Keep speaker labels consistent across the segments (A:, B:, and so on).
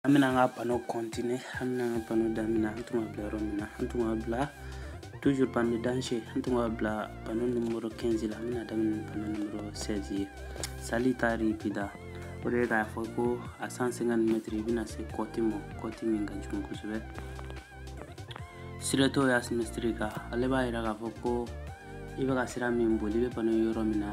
A: an bɛna an ka pano kɔntine an bɛna an ka pano daminɛ an tun b'a bila yɔrɔ min na an tun b'a bila toujours pano danger an tun b'a bila pano numero 15 la an bɛna daminɛ pano numero 16 ye salita ripida o de ye k'a fɔ ko a 150 mètre i bɛna se kɔti ma kɔti min ka jugu kosɛbɛ strettoia simmetrica ale b'a yira k'a fɔ ko i bɛ ka sira min boli i bɛ pano yɔrɔ min na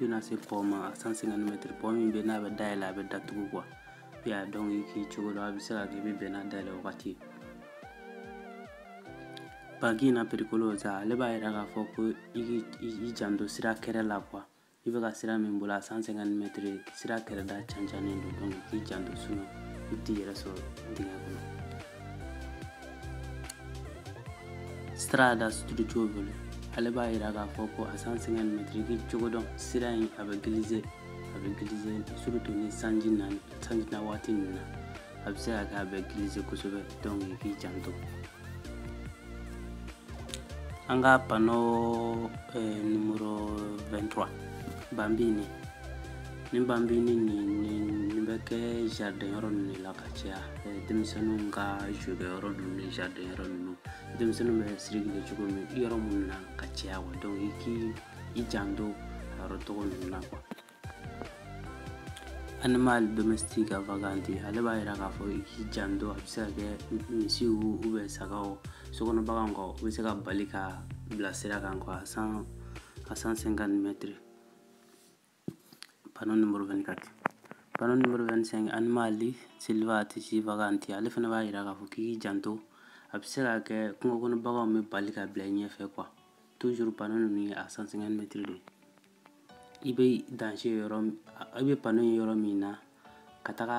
A: i bɛna se pɔn ma a 150 mɛtiri pɔn min bɛ n'a bɛ dayɛlɛ a bɛ datugu quoi i y'a dɔn i k'i cogo la a bɛ se ka kɛ i bɛ bɛn n'a dayɛlɛ wagati ye banchina pericolosa ale b'a yira k'a fɔ ko i k'i janto sira kɛrɛ la quoi i bɛ ka sira min boli a 150 mɛtiri sira kɛrɛda cancannen don donc k'i janto sinon i t'i yɛrɛ sɔrɔ dingɛ kɔnɔ strada sdrucciolevole ale b'a yira k'a fɔ ko a 150 mɛtiri k'i cogo dɔn sira in a bɛ gilize a bɛ gilize surtout ni sanji na sanji na waati ninnu na a bɛ se ka kɛ a bɛ gilize kosɛbɛ donc i k'i janto an ka pano eh, numero 23 bambini ni bambini nin nin bɛ kɛ jardin yɔrɔ ninnu de la ka caya denmisɛnninw ka jeu kɛ yɔrɔ ninnu ni jardin yɔrɔ ninnu denmisɛnninw bɛ circuler cogo min yɔrɔ minnu na ka caya wa donc i k'i i janto a yɔrɔ tɔgɔ ninnu na quoi animali domestici vaganti ale b'a yira k'a fɔ i k'i janto a bɛ se ka kɛ misiw ou bien sagaw sokɔnɔ baganw kɔ u bɛ se ka bali ka bila sira kan quoi san a 150 mɛtiri Panneau numéro 24 panneau numéro 25 animali selvatici vaganti ale fana b'a yira k'a fɔ k'i k'i janto a bɛ se ka kɛ kungo kɔnɔ baganw bɛ bali ka bila i ɲɛfɛ quoi toujours panneau ninnu ye a 150 mètres de i bɛ danger yɔrɔ i bɛ panneau ye yɔrɔ min na ka taga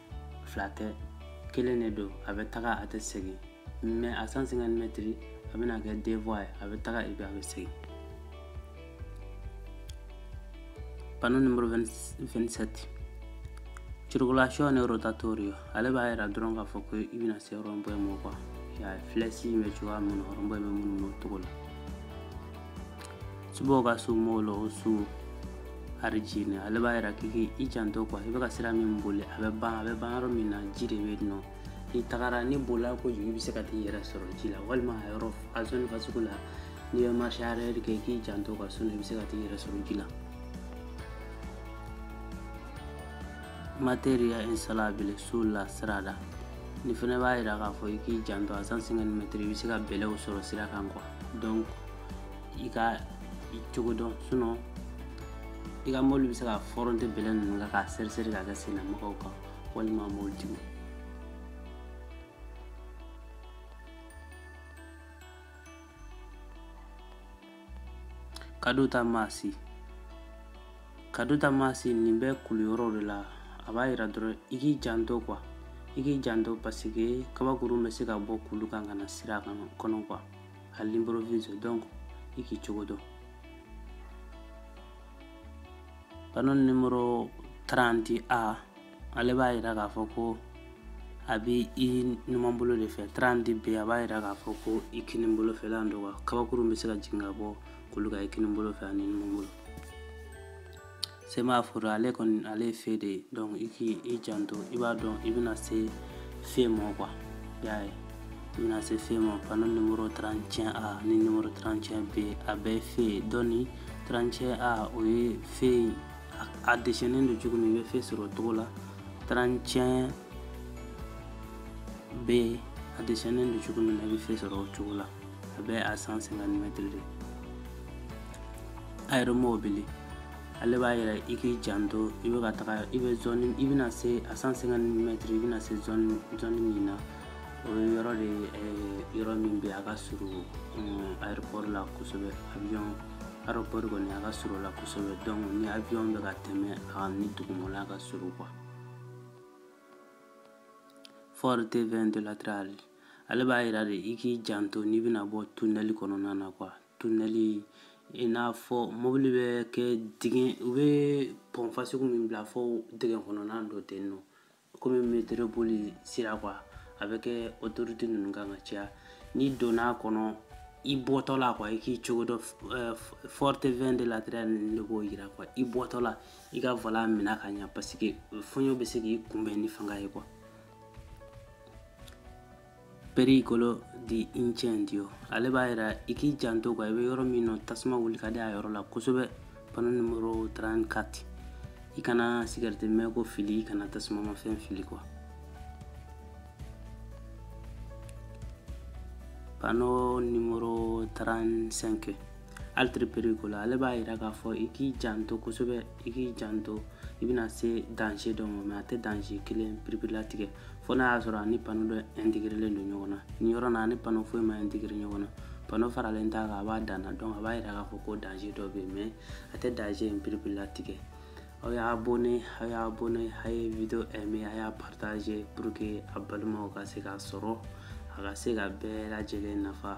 A: fila tɛ kelen de don a bɛ taga a tɛ segin mais a 150 mɛtiri a bɛna kɛ deux voies ye a bɛ taga i bɛ a bɛ segin pano nimoro 27 circolazione rotatoria ale b'a yira dɔrɔn k'a fɔ ko i bɛna se rond-point ma quoi filɛsi bɛ cogoya min na rond-point bɛ munu o cogo la sbocco su molo o su argine ale b'a yira k'i i janto quoi i bɛ ka sira min boli a bɛ ban a bɛ ban yɔrɔ min na ji de bɛ nɔ n'i tagara n'i bolila kojugu i bɛ se ka t'i yɛrɛ sɔrɔ ji la walima a yɔrɔ a zone fasugu la n'i bɛ marché arrière kɛ k'i janto quoi sinon i bɛ se ka t'i yɛrɛ sɔrɔ ji la materiale instabile sulla strada nin fana b'a yira k'a fɔ i k'i janto a 150 mètres i bɛ se ka bɛlɛw sɔrɔ sira kan quoi donc i k'i cogo dɔn sinɔn i ka mɔbili bɛ se ka fɔrɔnte bɛlɛ ninnu kan k'a seriseri k'a kɛ sennamɔgɔw kan walima mɔbilitigiw caduta massi caduta massi nin bɛ kulu yɔrɔw de la a b'a yira dɔrɔn i k'i janto kuwa i k'i janto paseke kabakurun bɛ se ka bɔ kulu kan ka na sira kan kɔnɔ kuwa à l'improvise donc i k'i cogo dɔn panneau numéro 30A ale b'a yira k'a fɔ ko a bɛ i numanbolo de fɛ 30B a b'a yira k'a fɔ ko i kininbolo fɛ la don wa kabakurun bɛ se ka jigin ka bɔ kulu kan i kininbolo fɛ ani numanbolo semaforo ale kɔni ale ye fe de ye donc i k'i i janto i b'a dɔn i bɛna se fe mɔ quoi y'a ye i bɛna se fe mɔ pano nimoro 31 a ni nimoro 31 b a bɛɛ ye fe ye dɔni 31 a o ye fe a desɛnnen don cogo min i bɛ fe sɔrɔ o cogo la 31 B a desɛnnen don cogo min na i bɛ fe sɔrɔ o cogo la a bɛ a 150 mɛtiri de aeromobili ale b'a yira i k'i janto i bɛ ka taga i bɛ zɔni i bɛna se a 150 mɛtiri i bɛna se zɔni zɔni min na o ye yɔrɔ de ye eh, yɔrɔ min bɛ a ka surun mm, aéroport la kosɛbɛ avion aéroport kɔni a ka surun o la kosɛbɛ donc ni avion bɛ ka tɛmɛ a ni dugumala ka surun quoi forte vento laterale ale b'a yira de i k'i janto n'i bɛna bɔ tunɛli kɔnɔna na kuwa tunɛli i n'a fɔ mobili bɛ kɛ dingɛ u bɛ pɔn fasugu min bila fɔ dingɛ kɔnɔna dɔ ten nɔ komi metoro bolisira kuwa a bɛ kɛ otoruti ninnu kan ka caya n'i donna a kɔnɔ i bɔtɔla kuwa i k'i cogo dɔn forte vento laterale de b'o yira kuwa i bɔtɔla i ka volan mina ka ɲa paseke fɔɲɔ bɛ se k'i kunbɛn ni fanga ye kuwa pericolo di incendio ale b'a yira i k'i janto kuwa i bɛ yɔrɔ min nɔ tasuma wuli ka di a yɔrɔ la kosɛbɛ pano numero 34 i kana sigarɛti mego fili i kana tasumamafɛn fili kuwa pano numero 35 altre pericolo ale b'a yira k'a fɔ i k'i janto kosɛbɛ i k'i janto i bɛna se danze dɔ ma mɛ a tɛ danze kelen piripiri latigɛ fo n'a y'a sɔrɔ a ni pano dɔ ɛntegerelen don ɲɔgɔn na nin yɔrɔ na a ni pano foyi ma ɛntegere ɲɔgɔn na pano faralen t'a kan a b'a danna donc a b'a yira k'a fɔ ko danze dɔ bɛ yen mɛ a tɛ danze in piripiri latigɛ aw y'a abonné aw y'a abonné a ye video aimé a y'a partagé pour que a balimaw ka se k'a sɔrɔ a ka se ka bɛɛ lajɛlen nafa